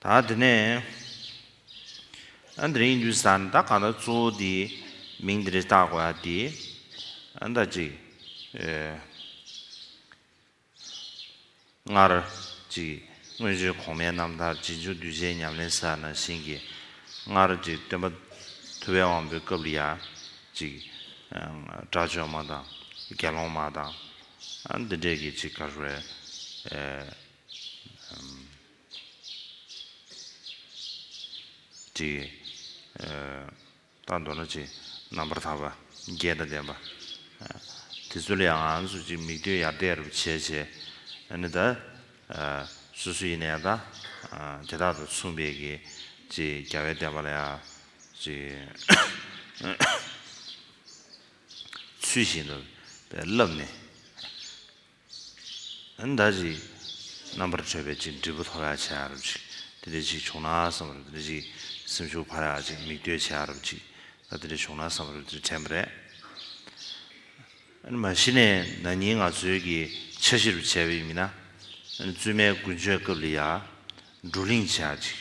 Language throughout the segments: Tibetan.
ད་དེ་ནས་ཨ་འདི་རིང་འདུས་ས་ནི་ད་གང་ད་གཙོ་བོ་དེ་མིང་དེ་རེ་བཏགས་དགོས་ཨ་དེ་ཨ་ད་ཅིག་སྔར་ཅིག་སྔོན་བྱོན་གོང་མའི་རྣམ་ཐར་རྗེས་འཇུག་གདུལ་བྱའི་ཉམས་ལེན་ས་ན་བཞིན་གྱི་སྔར་ཅིག་སྟོན་པ་ཐུ་བའི་དབང་པོའི་སྐབས་ལ་ཡ་ཅིག་དགྲ་བཅོམ་མ་དང་དགེ་སློང་མ་དང་ཨ་འདི་འདྲས་ཀྱིས་ཅིག་གར་བའི། དེ། རྟགས་མདོར་ན་ཅི། རྣམ་པར་དག་པ། རྒྱས་དང་ལྡན་པ། དེ་ཚུལ་ཡང་ང་ཚོ་ཅིག་མིག་མདུན་ཡར་བལྟས་རུབ་བྱས་བྱས། ནི་ད། སུ་སུ་ཡིན་ན་ཡང་དང། དེ་དག་དང་མཚུངས་པའི་གི། ཅི་རྒྱལ་བའི་བསྟན་པ་ལ་ཡང། ཅི། ཚུལ་བཞིན་དུ། བསླབས་ནས། ཨ་མདའ་ཅིག། རྣམ་པར་གྲོལ་བའི་ཅིག་འབྲས་བུ་ཐོབ་ཡག་བྱ་ཡག་རབ་ཅིག། དེ་འདྲའི་ཅིག་བྱུང་ན་བསམ་པར་དེ་འདྲའི་ཅིག། སེམས་ཤུགས་འཕར་ཡག་ཅིག་མིག་ལྟོས་བྱེད་ཡག་རབ་ཅིག། ད་དེ་འདྲའི་བྱུང་ན་བསམ་པར་དེ་འདྲའི་དྲན་པ་རེད། ཨ་ནི་མ་གཞི་ནས་ན་ནིང་ང་ཚོའི་གི་འཆར་གཞི་རུ་བྱས་པ་ཡིན་མིན་ན། ཨ་ནི་བཙུན་མའི་དགུན་ཆོས་སྐབས་ལི་ཡག། བགྲོ་གླེང་བྱེད་ཡག་ཅིག།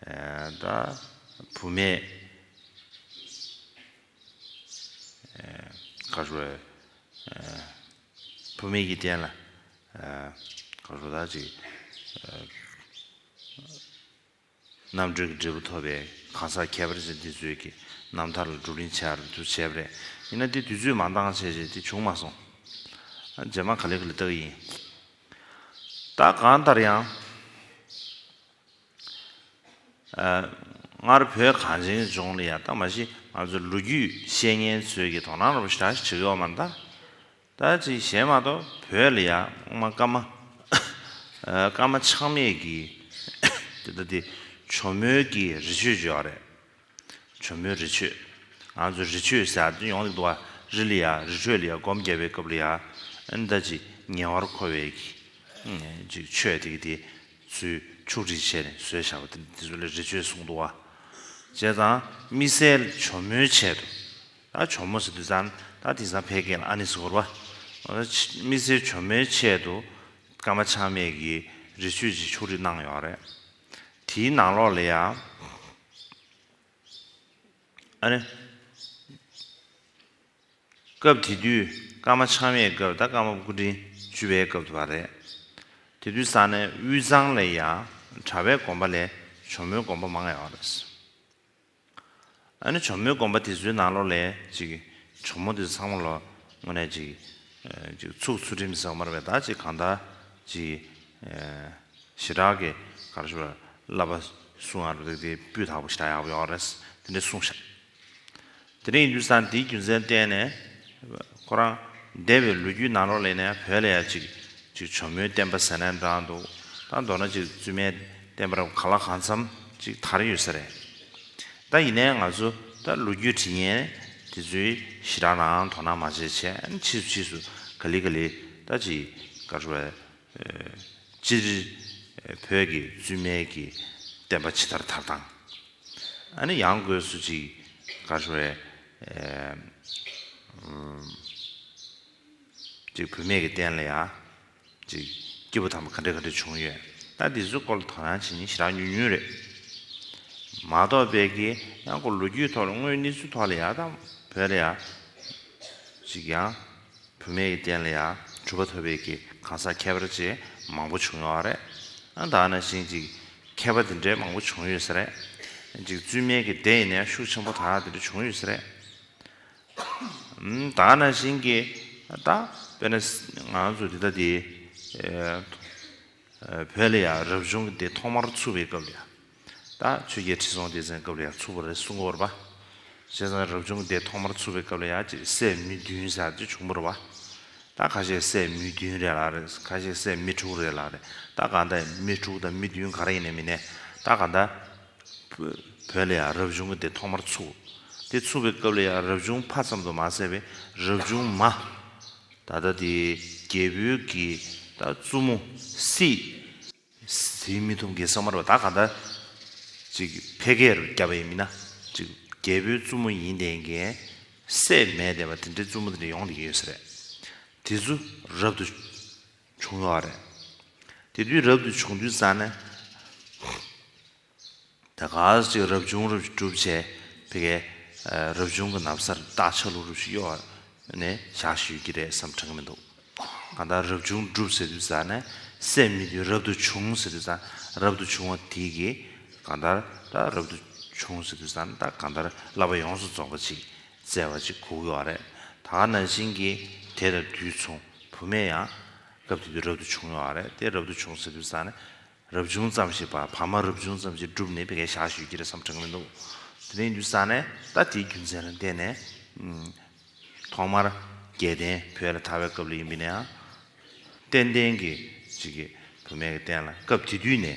བདག་བུ་མེད། བུ་མེད་ཀྱི་རྟེན་ལ། བདག་གཅིག། རྣམ་གྲོལ་གྱི་འབྲས་བུ་ཐོབ་པའི་གང་ཟག་ཁྱད་པར་ཅན་དེ་ཚོའི་གི་རྣམ་ཐར་ལ་བསྒྲུབ་གླིང་བྱས་པར་དུ་བྱས་པ་རེད། ཡིན་ན་དེ་དུས་ཚོད་མང་འདང་བྱས་བྱས་དེ་བྱུང་མ་སོང། རྗེས་མ་ག་ལེ་ག་ལེ་བལྟ་གི་ཡིན། བདག་གང་ལྟར་ཡང། སྔར་བོད་གངས་ཅན་ལྗོངས་ལ་ཡང་ད་མ་གཞི་ང་ཚོའི་ལོ་རྒྱུས་བཤད་མཁན་ཚོས་ཀྱིས་དོ་སྣང་རོགས་པ་ཞེ་དྲག་ཞིག་བྱེད་ཀྱི་ཡོད་མ་རེད་ད། ད་ཅིག་གཞན་མ་གཏོགས་བོད་ལ་ཡང་སྔོན་མ་སྐར་མ། སྐར་མ་ཆགས་མེད་ཀྱིས་དེ་ལྟ་དེ། ཇོ་མོའི་ཀྱི་རི་ཆོས་བརྗོད་ཡག་རེད། བྱུང་མོད་རི་ཆོས། ང་ཚོ་རི་ཆོས་ཟེར་དོན་ཡོང་ལེགས་འདུག་ཨ་རི་ལ་ཡ་རི་ཁྲོད་ལ་ཡ་སྒོམ་རྒྱབ་པའི་སྐབས་ལ་ཡ་ཨེ་འདའ་ཅིག་ཉེ་བར་མཁོ་བའི་ཅིག་ཆོས་དེ་གི་དེ་ཚུལ་ཕྱུག་བསྒྲིགས་བྱས་ནས་བཟོས་བཞག་པ་དེ་འདི་ཚོ་ལ་རི་ཆོས་གསུངས་འདུག་ཨ། བྱས་ཙང་དམིགས་བསལ་བྱོ་མོའི་ཆེད་དུ་ཨ་བྱོ་མོ་ཟེར་དུས་ཙང་ད་དེང་སང་ཕལ་སྐད་ལ་ཨ་ནི་ཟེར་བར་བ། དམིགས་བསལ་བྱོ་མོའི་ཆེད་དུ་ཀརྨ་ཆགས་མེད་ཀྱིས་རི་ཆོས་ཅིག་ཕྱུག་བསྒྲིགས་གནང་ཡོད་རེད། དེའི་ནང་ལོགས་ལ་ཡང། ཨ་རེ། སྐབས་དེ་དུས་སྐར་མ་འཆང་བའི་སྐབས་ད་སྐར་མ་སྐུ་དྲིན་བཅུ་བའི་སྐབས་དུ་བ་རེད། དེ་དུས་ས་གནས་དབུས་གཙང་ལ་ཡང་གྲྭ་བའི་དགོན་པ་ལས་ཇོ་མོའི་དགོན་པ་མང་ཡོད་རེད། ཨ་ནི་གྱོ་མོའི་སྒོམ་པ་དེ་ཚོའི་ནང་ལོགས་ལས་ཅིག་གྱོ་མོ་དེ་ཚོ་ཚང་མ་ལོ་ངོ་ནས་ཅིག་ཚུགས་ཚུལ་ཁྲིམས་ཟེར་བ་མར་བས་ད་ཅིག་གང་དག་ཅིག་ཞི་དྲག་གི་ག་རེ་ཞུ་བ་བསླབ་པ་སུ་ང་རུ་འདུག་དེའི་སྤུས་དག་པོ་ཞི་དྲག་ཡག་པོ་ཡོད་རེད་དེ་འདྲས་གསུངས་ཤག། དེ་རིང་ཡུལ་ས་འདིའི་རྒྱུ་མཚན་བསྟན་ནས་ཁོ་རང་འདས་པའི་ལོ་རྒྱུས་ནང་ལོགས་ལས་ནས་བོད་ལ་ཡ་ཅིག་གྱོ་མོའི་བསྟན་པ་ཟེར་ནས་འདྲ་འདུག་ད་མདོར་ན་ཅིག་བཙུན་མའི། བསྟན་པར་ག་ལ་གང་འཚམ་ཅིག་དར་ཡོད་ས་རེད་ད་ཡིན་ནའི་ང་ཚོ་ད་ལོ་རྒྱུས་དྲི་ངན་དེ་ཚོའི་ཞི་དྲག་ནའང་དོ་སྣང་མ་བྱེད་ཆེན་ཕྱིས་སུ་ཕྱིས་སུ་ག་ལི་ག་ལི་ད་ཅི་དགའ་རོ་བས་སྤྱིར་བོད་ཀྱི་བཙུན་མའི་ཀྱི་བསྟན་པ་ཇི་ལྟར་དར་དང་ཨ་ནི་ཡང་དགོས་སུ་ཅིག་དགའ་རོ་བས་ཅིག་བུད་མེད་ཀྱི་བསྟན་ལ་ཡང། ཅིག། སྐྱེས་བུ་དམ་པ་ག་འདྲས་ག་འདྲས་བྱུང་ཡོད། ལྟ་འདི་ཚོའི་སྐོར་ལ་དོ་སྣང་བྱེད་ཉིན་ཞེ་དྲག་ཉུང་ཉུང་རེད། མ་གཏོགས་དཔལ་ཁའི་གཡང་སྐོར་ལོ་རྒྱུས་ཐོག་ལ་དངོས་གནས་ཚུལ་ཐོག་ལ་ཡག་དང་བོད་ལ་ཡག། ཅིག། ཡང་བུད་མེད་ཀྱི་རྟེན་ལ་ཡག་གྲུབ་པ་ཐོབ་པའི་གི་གང་ཟག་མཁས་པར་བཅས་མང་པོ་བྱུང་ཡོད་རེད། ཨང་དག་ན་བཞིན་ཅིག། མཁས་པ་དེ་འདྲས་མང་པོ་བྱུང་ཡོད་ས་རེད། ཅིག་བཙུན་མའི་གི་སྡེ་ཡིན་ན་ཤུགས་ཆེན་པོ་དག་དེ་འདྲས་བྱུང་ཡོད་ས་རེད། ད་ན་བཞིན་གྱི་ད་དཔེར་ན་ང་ཚོ་འདི་ལྟ་དེ། བོད་ལ་ཡང་རབ་བྱུང་གི་དེ་ཐོག་མར་ཚུགས་པའི་སྐབས་ལ་ཡང། ད་ཆོས་རྒྱལ་ཁྲི་སྲོང་ལྡེ་བཙན་སྐབས་ལ་ཡང་ཚུགས་པ་རེད་གསུང་གི་འོར་བ། བྱས་ཙང་རབ་བྱུང་གི་དེ་ཐོག་མར་ཚུགས་པའི་སྐབས་ལ་ཡང་ཅིག་སད་མི་བདུན་ཟེར་ཅིག་བྱུང་འོར་བ། ད་ཁ་ཤས་སད་མི་བདུན་རེད་ལགས་རེད་ཁ་ཤས་སད་མི་དྲུག་རེད་ལགས་རེད་ད་གང་ལྟ་ཡིན་མི་དྲུག་དང་མི་བདུན་ག་རེ་ཡིན་ནས་མིན་ནས་ད་གང་ལྟ། བོད་ལ་ཡང་རབ་བྱུང་གི་དེ་ཐོག་མར་ཚུགས། དེ་ཚུགས་པའི་སྐབས་ལ་ཡང་རབ་བྱུང་ཕ་ཙམ་དུ་མ་ཟད་པའི་རབ་བྱུང་མ། ད་ལྟ་དེ་རྒྱལ་པོའི་དགེ། ད་བཙུན་མོ། སྲིད། དེའི་མི་ཐུབ་དགེ་ས་མར་བ་ད་ག་འདྲ། ཅིག་ཕལ་སྐད་རུ་བརྒྱབ་པ་ཡིན་མིན་ན། ཅིག་རྒྱལ་པོའི་བཙུན་མོ་ཡིན་བསྡད་མཁན། སྲས་མས་བསྡད་པ་དེ་འདྲའི་བཙུན་མོ་དེ་འདྲ་ཡོང་དེ་ཡོད་ས་རེད། དེ་ཚུ་རབ་ཏུ། བྱུང་ཡོད་རེད། དེ་དུས་རབ་ཏུ་བྱུང་དུས་ས་ནས། ད་ག་ཟེ་ཅིག་རབ་བྱུང་རབ་བྱུང་གྲུབ་བྱས་དེ་གའི་རབ་བྱུང་གི་ནམ་སར་སྟག་ཆ་ལུག་རུ་ཞིག་གཡོ་བ་ནས་བཞག་བཞིན་ཡོད་ཀྱི་རེད་བསམ་དྲན་གྱི་མི་འདུག་གང་ལྟར་རབ་བྱུང་གྲུབ་ཟེར་དུས་ས་ནས་སད་མི་དུས་རབ་ཏུ་བྱུང་ཟེར་དུས་ད་རབ་ཏུ་བྱུང་བ་དེ་གའི་གང་ལྟར་ད་རབ་ཏུ་བྱུང་ཟེར་དུས་ད་གང་ལྟར་བསླབ་པ་ཡོངས་སུ་རྫོགས་པ་ཅིག་བཙལ་བ་ཅིག་གོ་གི་བ་རེད། ད་ག་ནང་བཞིན་གྱི་དེ་ལ་འདུས་མཚུངས་བུ་མེད་ཡང། སྐབས་དེ་དུས་རབ་ཏུ་བྱུང་ཡོང་བ་རེད་དེ་རབ་ཏུ་བྱུང་ཟེར་དུས་བཟང་ནི། རབ་བྱུང་ཙམ་ཞིག་བ་བ་མ་རབ་བྱུང་ཙམ་ཞིག་བསྒྲུབས་ནས་བི་གའི་ཞག་ཞུས་ཀྱི་རེད་བསམ་གྲགས་མི་འདུག་དེ་རིང་དུས་བཟང་ནས་ད་དེའི་རྒྱུ་མཚན་ལ་བལྟས་ནས། ཐོག་མར་རྒྱལ་བསྟན་བོད་ལ་དར་བའི་སྐབས་ལ་ཡིན་པས་ན་ཡང། བསྟན་བསྟན་གྱི་ཅིག་གི་བུ་མེད་ཀྱི་བསྟན་ལ་སྐབས་དེ་དུས་ནས།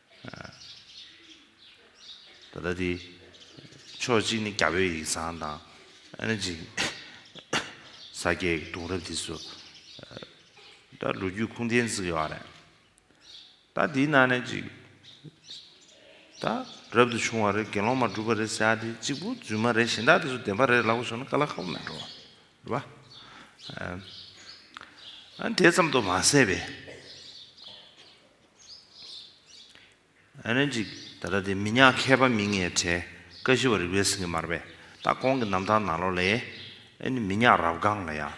ད་ལྟ་དེ་ཕྱོགས་གཅིག་ནི་རྒྱ་བོད་ཡིག་ཚང་དང། ཨ་ནི་འཇིགས་ས་སྐྱའི་གདུང་རབས་དེ་ཚོ། ད་ལོ་རྒྱུས་ཁུངས་ལྡན་བརྩི་གི་ཡོད་རེད། ད་དེའི་ནང་ནས་ཅིག། ད་རབ་ཏུ་བྱུང་བ་རེད་དགེ་སློང་མ་སྒྲུབ་པ་རེད་ཟེར་དེ་གཅིག་པུ་རྫུན་མ་རེད་གཞན་དག་དེ་ཚོ་བདེན་པ་རེད་ལབ་གི་སོང་ན་ཀ་ལ་ཁ་བོ་མེད་འགྲོ། འགྲོ་བ། ཨ་ནི་དེ་ཙམ་དུ་མ་ཟད་པའི། ད་ལྟ་དེ་མི་ཉག་མཁས་པ་མི་ལྔའི་གྲས་ཀ་བཞི་བ་རིག་པའི་སེང་གེ་མར་པས་ད་ཁོང་གི་རྣམ་ཐར་ནང་ལོ་ལས། ཨེ་ནི་མི་ཉག་རབ་སྒང་ལ་ཡང།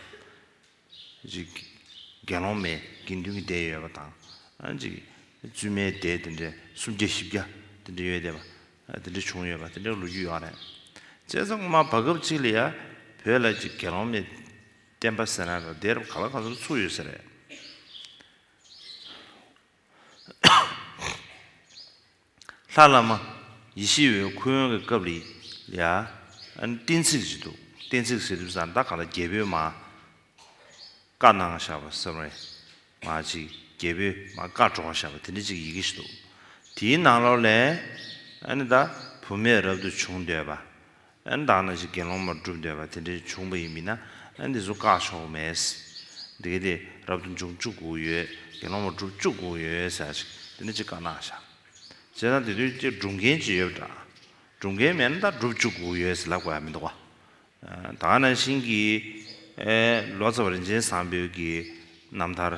དགེ་སློང་མའི་དགེ་འདུན་གྱི་སྡེ་ཡོད་པ་དང། བཙུན་མའི་སྡེ་དེ་འདྲའི་སུམ་བརྒྱ་བཞི་བརྒྱ་དེ་འདྲ་ཡོད་བསྡད་པ། དེ་འདྲ་བྱུང་ཡོད་པ་དེ་འདྲའི་ལོ་རྒྱུས་ཡོད་རེད། བཙན་ས་ངོ་མ་བར་སྐབས་ཅིག་ལ་ཡ་བོད་ལ་དགེ་སློང་མའི་བསྟན་པ་ཟེར་ན་ལ་སྡེ་རབ་ག་ལ་ག་ཚོར་ཚུགས་ཡོད་ས་རེད། ལྷ་བླ་མ་ཡེ་ཤེས་འོད་ཁུ་ཡོན་གྱི་སྐབས་རེད་ཡ། གཏན་ཚིགས་ཅིག་འདུག་གཏན་ཚིགས་ཟེར་དུས་ཟངས་མདའ་ག་ལ་རྒྱལ་པོའི་མ། བཀའ་གནང་བཞག་པ་ཟེར་བའི་མ་ཅིག་རྒྱལ་པོའི་མ་བཀའ་སྒྲོག་བཞག་པ་དེ་འདྲ་ཅིག་ཡི་གེ་ཞིག་འདུག་དེའི་ནང་ལོགས་ལས། ཨ་ནི་ད་བུ་མེད་རབ་ཏུ་བྱུང་འདོད་པ། བདག་ན་ཅིག་དགེ་སློང་མར་བསྒྲུབས་འདོད་པ་དེ་འདྲའི་བྱུང་བ་ཡིན་མིན་ན་འདི་ཚོ་བཀག་ཆོག་མེད། དེ་གལ་ཏེ་རབ་ཏུ་འབྱུང་བཅུག་གོ་ཡོད་དགེ་སློང་མར་བསྒྲུབས་བཅུག་གོ་ཡོད་ཟེར་ན་ཅིག་དེ་འདྲ་ཅིག་བཀག་ནག་བྱ། བྱས་ཙང་དེ་དུས་ཀྱི་སྒྲུབ་མཁན་ཅིག་ཡོད་པ་འདྲ། སྒྲུབ་མཁན་མེད་ན་ད་བསྒྲུབས་བཅུག་གོ་ཡོད་ཟེར་ལབ་དགོས་ཡ་མི་འདུག་བ། དག་ན་ཤིང་གིས་ལོ་ཙཱ་བ་རིན་ཆེན་བཟང་པོའི་གིས་རྣམ་ཐར།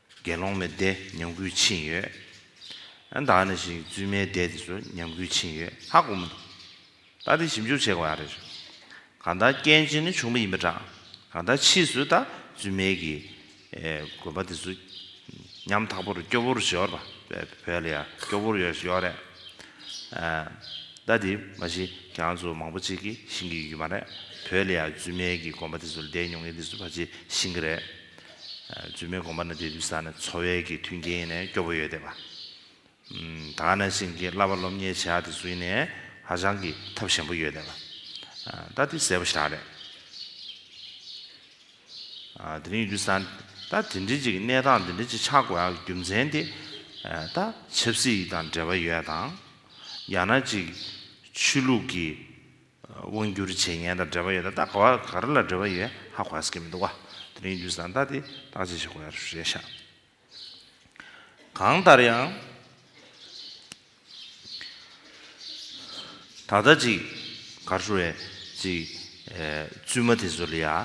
དགེ་སློང་མའི་སྡེ་ཉམས་རྒུད་ཕྱིན་ཡོད། ད་ནི་ཞིག་བཙུན་མའི་སྡེ་དེ་ཚོ་ཉམས་རྒུད་ཕྱིན་ཡོད་ཧ་གོ་མི་འདུག་ད་དེ་ཞིབ་འཇུག་བྱེད་དགོས་ཨ་རེད། གང་ལྟར་རྐྱེན་གཅིག་ནི་བྱུང་བ་ཡིན་པ་འདྲ། གང་ལྟར་ཕྱིས་སུ་ད་བཙུན་མའི་གི་དགོན་པ་དེ་ཚོ་ཉམས་ཐག་པོ་རུ་སྐྱོ་བོ་རུ་བྱེད་ཨོ་བོད་ལ་ཡང་སྐྱོ་བོ་རུ་ཡོད་ཡོད་རེད། ད་དེ་མ་གཞི་གྱང་ཚོ་མང་པོ་ཅིག་གི་ཤིང་གི་ཡོད་མ་རེད། བོད་ལ་ཡང་བཙུན་མའི་གི་དགོན་པ་དེ་ཚོ་ལ་སྡེ་ཉུང་ངེ་དེ་ཚོ་ཕ་ཆེ་ཤིང་གི་རེད། རྫུན་མའི་དགོངས་པ་ནི་དེ་དུས་ས་ནས་འཚོ་བའི་གི་མཐུན་རྐྱེན་ནས་སྐྱོ་པོ་ཡོད་བསྡད་པ། དག་ནས་བྱིན་གྱིས་བརླབས་པ་སློབ་གཉེར་བྱས་ཡག་དེ་ཚོ་ཡིན་ནས་ཧ་ཅང་གི་ཐབས་ཞན་པོ་ཡོད་བསྡད་པ། ད་དེ་ཟད་པོ་ཞག་རེད། དེ་རིང་ཡིན་དུས་ས་ད་དེ་འདྲི་ཅིག་གནས་སྟངས་དེ་འདྲི་ཅིག་ཆགས་དགོས་ཡག་གི་རྒྱུ་མཚན་དེ་ད་ཆབ་སྲིད་ཡིག་དང་འབྲེལ་པ་ཡོད་དང། ཡང་ན་ཅིག་ཆོས་ལུགས་གི་དབང་སྒྱུར་བྱེད་མཁན་དང་འབྲེལ་བ་ཡོད་ན་ད་ག་བ་ག་རེ་ལ་འབྲེལ་བ་ཡོད་ཧ་གོ་ཧ་ཟེར་གྱི་མི་འདུག་ག་དེ་རིང་དུས་བཟང་ལྟ་སྟེ་བརྟག་དཔྱད་བྱེད་དགོས་ཡ་རེད་ཤག་གང་ལྟར་ཡང། ད་ལྟ་ཅིག་གར་ཧྲུལ་བའི་ཅིག་བཙུན་མ་དེ་ཚོ་ལ་ཡ་ཨ་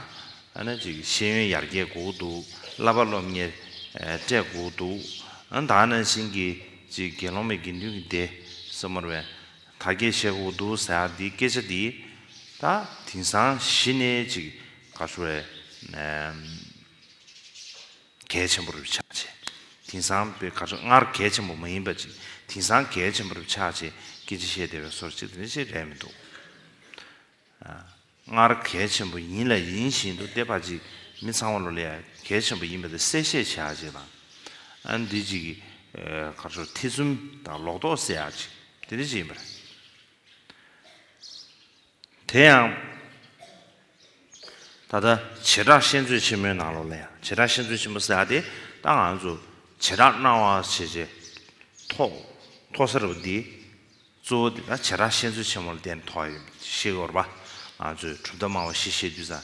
ན་ཅིག་ཤེས་ཡོན་ཡར་རྒྱས་དགོས་ཀྱི་འདུག་བསླབ་པ་སློབ་གཉེར་སྤྲད་དགོས་ཀྱི་འདུག་ཨ་ན་ད་ནང་བཞིན་གྱི་ཅིག་དགེ་སློང་མའི་དགེ་འདུན་གྱི་སྡེ་ས་མོར་བའི། ད་སྐད་བཤད་ཁོག་ཏུ་ཟེར་ཨ་འདི་སྐད་ཆ་འདི་ད་དེང་སང་གཞི་ནས་ཅིག་ག་ཚོ་བས་གལ་ཆེན་པོ་རུ་ཆགས་ཆེ་དེང་སང་བས་ག་ཚོ་སྔར་གལ་ཆེན་པོ་མ་ཡིན་པ་ཅིག་དེང་སང་གལ་ཆེན་པོ་རུ་ཆགས་ཆེ་སྐད་ཆ་བཤད་བདེ་བའི་སོར་ཅིག་དེ་འདྲ་ཅིག་རེད་མི་འདུག་ཨ། སྔར་གལ་ཆེན་པོ་ཡིན་ལ་ཡིན་བཞིན་དུ་ལྟེ་བར་ཅིག་མི་ཚང་བ་ལོ་ལེ་ཡ་གལ་ཆེན་པོ་ཡིན་པ་དེ་གསལ་བཤད་བྱེད་ཨ་ཅིག་དང། ཨ་འདི་ཅིག་གི་གར་སོར་ཐེ་ཚུམ་དང་ལོག་རྟོག་བསལ་ཨ་ཅིག་དེ་འདི་ཅིག་ཡིན་པ་རེད། དེ་ཡང། ད་ལྟ་བྱེ་བྲག་ཤེས་མཛོད་ཆེན་མོའི་ནང་ལོ་ལེ་ཡ་བྱེ་བྲག་ཤེས་མཛོད་ཆེན་མོ་སེ་ཨ་དེ་ད་ང་ཚོ་བྱེ་བྲག་སྣང་བ་ཆེ་ཆེ་ཐོག་ཐོག་ཟེར་བ་འདི། གཙོ་བོ་དེ་དག་བྱེ་བྲག་བཤད་ཚུལ་ཆེན་མོ་ལ་བརྟེན་ནས་ཐོགས་ཡོད། ཤེས་ཡོར་བ། ང་ཚོས་གྲུབ་མཐའ་སྨྲ་བ་ཞེས་བཤད་དུས་སམ།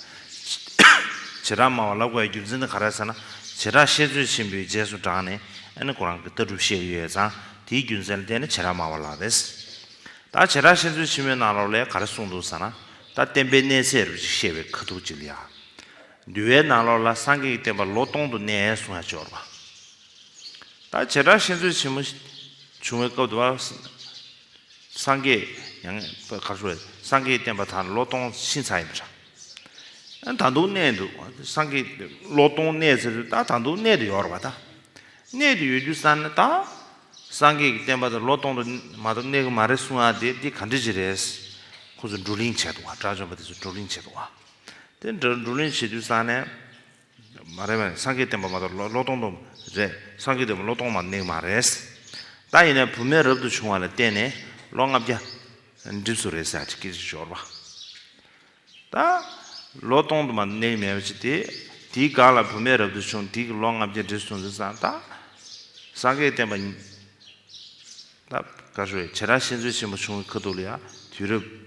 བྱེ་བྲག་སྨྲ་བ་ལ་བཀའི་རྒྱུ་མཚན་དེ་ག་རེ་ཟེར་ན། བྱེ་བྲག་བཤད་ཚུལ་ཆེན་པོའི་རྗེས་སུ་འབྲངས་ནས་ཨེ་ནི་ཁོ་རང་གི་ལྟ་གྲུབ་བཤད་ཀྱི་ཡོད་ཙང་དེའི་རྒྱུ་མཚན་ལ་བརྟེན་ནས་བྱེ་བྲག་སྨྲ་བ་ལབ་པས། ད་བྱེ་བྲག་བཤད་ཚུལ་ཆེན་མོའི་ནང་ལོགས་ལས་ག་རེ་གསུངས་འདུག་ཟེར་ན། ད་བསྟན་པའི་གནས་ཚད་རབ་ཅིག་བཤད་པའི་ཁ་ཐུག་ཅིག་ལ་ཡང། འདུལ་བའི་ནང་ལོགས་ལ་སངས་རྒྱས་ཀྱི་བསྟན་པ་ལོ་སྟོང་དུ་གནས་གསུང་ཡང་ཤེས་ཡོར་བ། ད་བྱེ་བྲག་ཤེས་འཚོལ་ཆེན་མོ་བྱུང་བའི་སྐབས་དུ་བ། སངས་རྒྱས་ཡང་བསྐལ་པ་བས་སངས་རྒྱས་བསྟན་པ་དང་ལོ་སྟོང་ཕྱིན་ཚར་ཡིན་པ་འདྲ། ད་དུང་གནས་འདུག་སངས་རྒྱས་ལོ་སྟོང་གནས་ཚེ་རུ་ད་ད་དུང་གནས་དུ་ཡོད་རོགས་པ་ད། གནས་དུ་ཡོད་རྒྱུ་བསམ་ན་ད། སངས་རྒྱས་ཀྱི་བསྟན་པ་དང་ལོ་སྟོང་དུ་མ་གཏོགས་གནས་གི་མ་རེད་གསུང་ཡ་དེ་འདི་ག་འདྲི་གཅིག་རེད། ཁོ་ཚོ་བགྲོ་གླེང་བྱས་འདུག་བ་དགྲ་བཅོམ་པ་དེ་ཚོ་བགྲོ་གླེང་བྱས་འདུག་བ། དེ་འདྲ་བགྲོ་གླེང་བྱེད་དུས་བསམ་ནས། མ་རེད་མ་རེད་སངས་རྒྱས་བསྟན་པ་མ་གཏོགས་ལོ་སྟོང་སྟོང་རེད་སངས་རྒྱས་བསྟན་པ་ལོ་སྟོང་མ་ནིང་མ་རེད། ད་ཡིན་ན་བུ་མེད་རབ་ཏུ་བྱུང་བ་ལ་བརྟེན་ནས་ལོ་ལྔ་བརྒྱ་འགྲིབས་སུ་རེད་ཟེར་གྱི་ཞོར་པ། ད་ལོ་སྟོང་དུ་མ་ནིང་མེད་པ་ཅིག་དེ་དེའི་སྒང་ལ་བུ་མེད་རབ་ཏུ་བྱུང་དེ་གི་ལོ་ལྔ་བརྒྱ་འགྲིབས་སོང་ཟེར་ས་ད་སངས་རྒྱས་བསྟན་པ་ཉིད་ད་ག་ཞོ་ཡ་བྱེད་རང་བཞིན་ཚུལ་ཆེན་པོ་བྱུང་བའི་ཁ་ཐུག་ལ་ཡ་དུས་རབས།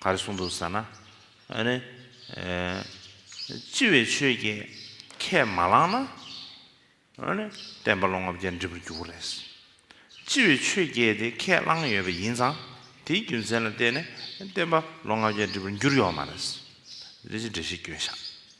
ག་རེ་གསུངས་འདུག་ཟེར་ན། ཨ་ནི། ལྕི་བའི་ཆོས་ཀྱིས་ཁས་མ་བླངས་ན། ཨ་ནི། བསྟན་པ་ལོ་ལྔ་བརྒྱ་འགྲིབ་པར་འགྱུར་བ་རེད། ལྕི་བའི་ཆོས་ཀྱིས་དེ་ཁས་བླངས་ཡོད་པ་ཡིན་ཙང་དེའི་རྒྱུ་མཚན་ལ་བརྟེན་ནས་བསྟན་པ་ལོ་ལྔ་བརྒྱ་འགྲིབ་པར་འགྱུར་ཡོང་བ་མ་རེད། རེད་ཅེས་འགྲེལ་བཤད་སྐྱོན་བཞག།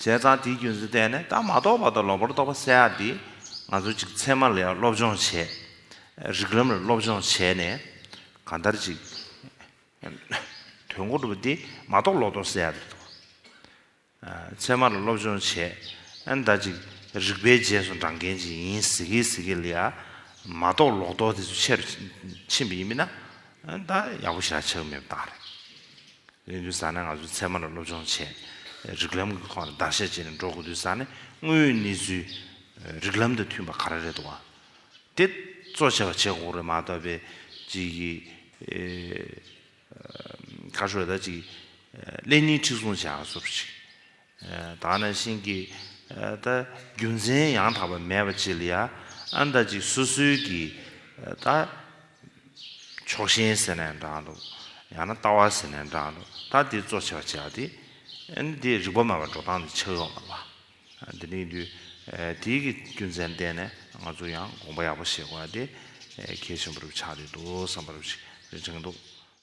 བྱས་ཙང་དེའི་རྒྱུ་མཚན་བལྟས་ནས་ད་མ་རྟོགས་པ་དང་ལོག་པར་རྟོག་པ་བསལ་ཡག་འདི། ང་ཚོ་གཅིག་ཚད་མ་ལ་ཡང་སློབ་སྦྱོང་བྱས། རིགས་ལམ་ལ་སློབ་སྦྱོང་བྱས་ནས། གང་ལྟར་གཅིག། དོན་གོ་སྒྲུབ་འདི་མ་རྟོགས་ལོག་རྟོགས་བསལ་ཡག་རེད་དོ། ཚད་མ་ལ་སློབ་སྦྱོང་བྱས། ཨ་མདའ་གཅིག་རིག་པའི་རྗེས་སུ་འབྲང་མཁན་གཅིག་ཡིན་ཟེར་གི་ཟེར་གི་ལ་ཡ། མ་རྟོགས་ལོག་རྟོགས་དེ་ཚོ་ཆེ་རུ་ཕྱིན་པ་ཡིན་མིན་ན། ད་ཡག་པོ་བྱ་ཆོག་མེད་པ་བཏང་རེད། ཡིན་དུས་ས་ནས་ང་ཚོས་ཚད་མ་ལ་སློབ་སྦྱོང་བྱས། རིགས་ལམ་གྱི་ཐོག་ནས་བརྡར་ཤ་བཅད་ནས་འགྲོ་དགོས་དུས་ས་ནས་དངོས་ཡོད་གནས་ཚུལ། རིགས་ལམ་དང་མཐུན་པ་ག་རེ་རེད་འདུག་བ། དེ་གཙོ་ཆེ་བ་བྱེད་དགོས་རེད་མ་གཏོགས་པའི། གཅིག་གིས། ཁ་ཤོ་ལ་ཅིག། ཀླད་རྙིང་འཁྲིག་སོང་བྱས་ང་ཚོར་ཅིག། ད་ནི་བཞིན་གྱི་ད་རྒྱུ་མཚན་ཡང་དག་པ་མེད་པ་ཅི་ལ་ཡ་ཨ་ད་ཅིག་སུ་སུའི་གི་ད་ཕྱོགས་ཞེན་ཟེར་ནས་འདྲང་འདུག་ཡང་ན་ལྟ་བ་ཟེར་ནས་འདྲང་འདུག་ད་འདི་གཙོ་ཆེ་བ་བྱས་པ་དེ་ཨན་དེ་རིག་པ་མེད་པ་འགྲོ་སྟངས་དེ་ཆགས་ཡོང་ལ་བ་དེ་ནི་དུས་དེའི་གི་རྒྱུ་མཚན་བསྟན་ནས་ང་ཚོ་ཡང་དགོངས་པ་ཡག་པོ་བཞེས་དགོས་པ་དེ་གལ་ཆེན་པོ་རུ་ཆགས་བསྡད་འདུག་བསམ་པ་རུ་ཞིག་རེ་དྲན་འདུག།